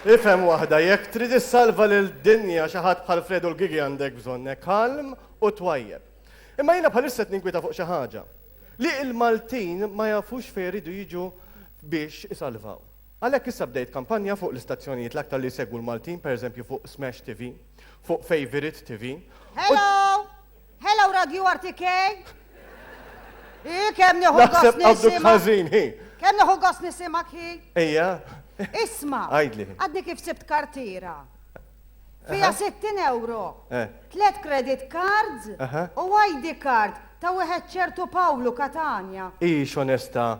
Ifhem waħda, jekk trid issalva lill-dinja xi ħadd bħal Fredu l-Gigi għandek bżonne kalm u twajjeb. Imma jiena bħalissa qed ninkwieta fuq xi ħaġa. Li il-Maltin ma jafux fejn iridu jiġu biex isalvaw. Għalhekk issa bdejt kampanja fuq l-istazzjonijiet l-aktar li jsegwu l-Maltin, pereżempju fuq Smash TV, fuq Favorite TV. Hello! Hello Radio RTK! Hi, kemm nieħu gost Naħseb qabdu nisimak. ħażin, hi. Kemm nieħu gost nisimak hi. Ejja. Isma, Għidli. għadni kif sibt kartira. Fija Aha. 60 euro, Eh. tlet credit cards Aha. u ID card ta' wieħed ċertu Pawlu Katanja. Ix onesta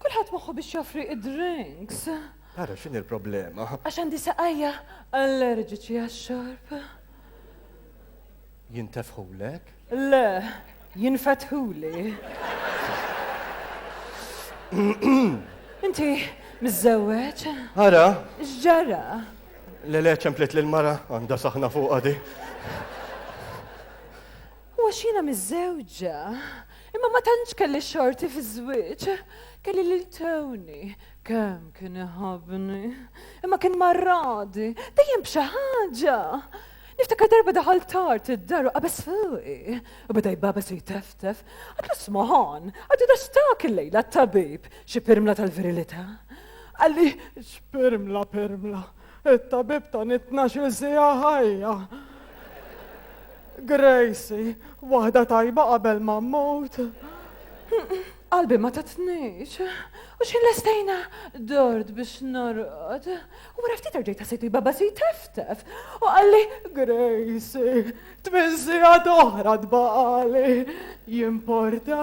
Kulħadd moħħu biex joffri id-drinks. Ara x'inhi l-problema. Għax għandi saqajja allerġiċi għax-xorb. Jintefħulek? Le, jinfetħuli. Inti miżżewweġ? Ara? X'ġara? Le le ċemplet lil mara għandha saħna fuqha di. U għax jiena miżżewġa, imma ma tantx kelli xorti fiż-żwieġ, kelli lil Tony, kemm kien iħabbni, imma kien marradi, dejjem b'xi ħaġa. Niftakar darba daħal tard id-dar u qabeż fuqi, u beda jbagħbeż u jteftef, għadlu smoħon, għadu dastak il-lejla t-tabib, xi pirmla tal-virilità. Qalli, x'pirmla, pirmla! It-tabib ta' nit-tnax-il siegħa ħajja. Gracie, waħda tajba qabel ma mmut. Qalbi ma tatnix. U xi lestejna dort biex norqod. U wara ftit erġejt ħassejt li baba si teftef. U qalli, Gracie, tmien siegħa oħra tbaqali. Jimporta?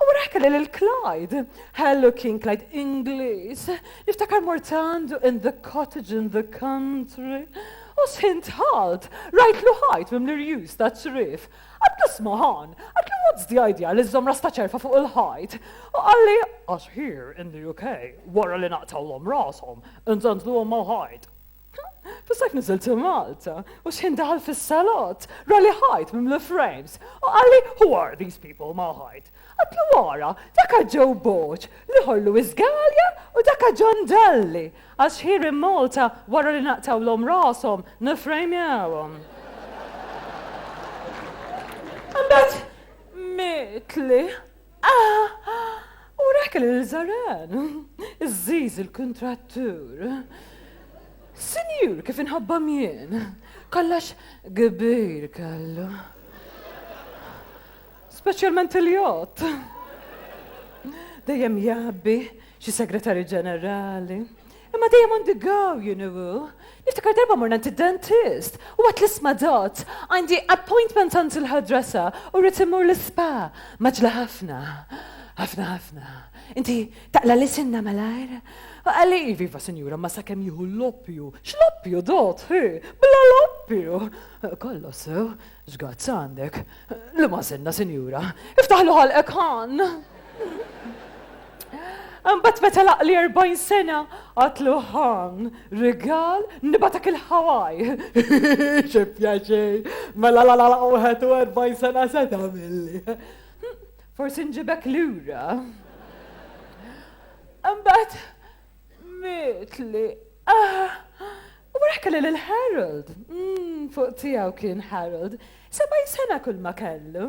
U wara kelli lil Clyde. Hello kien Clyde Ingliż. Niftakar mort għandu in the cottage in the country. U sħin tħalt, rajtlu ħajt mimli rjus ta' ċrif. Għad nisma' ħan, għadlu what's the idea li żżomm ras ta' ċerfa fuq il-ħajt. U qalli għax here in the UK wara li naqtgħulhom rashom, inżandluhom mal-ħajt. Fis-sajf niżilt Malta u xħin daħal fis-salott, rali ħajt mimli frames u qalli who are these people ma' ħajt. Għadtlu wara, daka Joe Borg, l-ieħor Louis Galea u daka John Dalli, għax here in Malta wara li naqtgħulhom rashom nifrejmjawhom. Imbagħad mietli. Ah! Urek il-ħżaren! Iżżiż il-kuntrattur. Sinjur kif inħabbam jien! Kollox kbir kellu. Speċjalment il-jott. Dejjem jgħabbi xi segretarju ġenerali. Imma dejjem għandi gaw, you know. Niftakar darba morna għand id-dentist u għat l-isma dot, għandi appointment għand il-ħadrasa u rrit immur l-ispa. Maġla ħafna, ħafna ħafna. Inti taqla li sinna malajr? Għalli, viva sinjura, ma sakem juhu l-loppju. X-loppju dot, hi, bla loppju. Kollos, Żgazz għandek? Liema senna, sinjura? Iftaħlu ħalqek ħan! Mbagħad meta laqli 40 sena għatlu ħan, rigal, nibatak il-ħawaj. Xi pjaċej, mela la la la 41 sena se tagħmilli. Forsi nġibek lura. Mbagħad Mitli, ah! U wara kelli lil Harold. Mm, fuq tiegħu kien Harold. Sebgħin sena kulma kellu.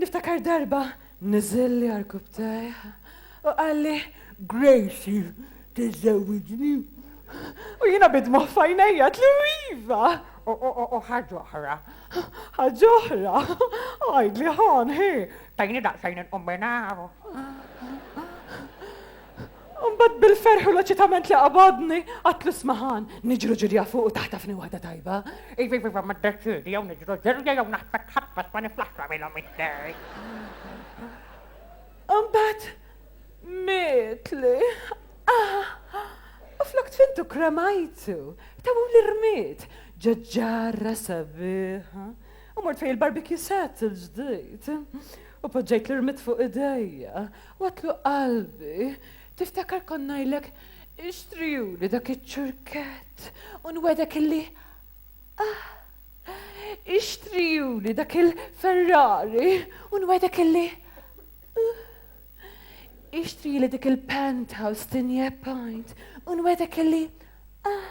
Niftakar darba niżilli għarkub tajh u qalli Gracie tiżżewwiġni. U jiena bidmu fajnejja tlu iva. U ħaġoħra, ħaġoħra, għajd li ħan, hi, Tajni daqsxejn inqum minn hawn. Imbagħad bil-ferħ u l-eċitament li qabadni, għadt lis-smaħan, Niġru ġirja fuq u taħtafni waħda tajba? Iva, iva, iva, ma ddeċiedi, jew niġru ġirja jew naħtfek ħatfek ma niflaħx nagħmilhom it-tnejn. Imbagħad mietli. U flok tfintu kremajtu, tawhuli rmied ġo ġarra sabiħa. U mort fej il-barbecue set il-ġdid. U poġġejt l-irmit fuq idejja. U għatlu qalbi, tiftakar kont ngħidlek ixtrijuli dak iċ-ċurkett u nwegħdek illi ah! Ixtrijuli dak il-Ferrari u nwegħdek illi uh! Ixtrijuli dik il-penthouse tinje pint u nwegħdek illi ah!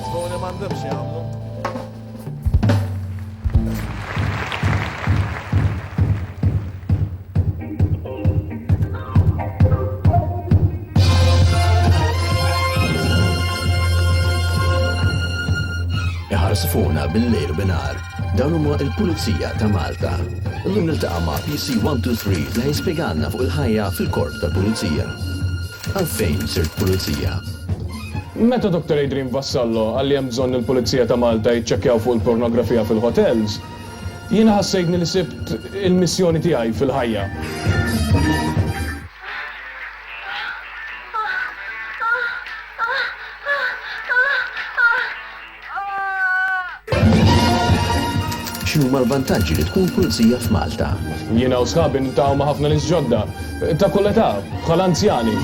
Tfuni m'għandhomx jagħmlu. Iħarsfuna bil-lejl binar Dawn huma il-Pulizija ta' Malta. Illum niltaqa' ma' PC 123 li ħajspjegalna fuq il-ħajja fil-korp tal-Pulizija. Għalfejn sirt pulizija? Meta Doctor Adrian Vassallo qal li hemm bżonn li l-Pulizija ta' Malta jiċċekkjaw fuq il-pornografija fil-ħotels, jiena ħassejtni li sibt il-missjoni tiegħi fil-ħajja. X'inhuma l-vantaġġi li tkun pulizija f'Malta? Jiena u sħabi niltaqgħu ma' ħafna nies ġodda, ta' kull età, bħal anzjani.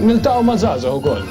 Niltaqgħu ma' żgħażagħ ukoll.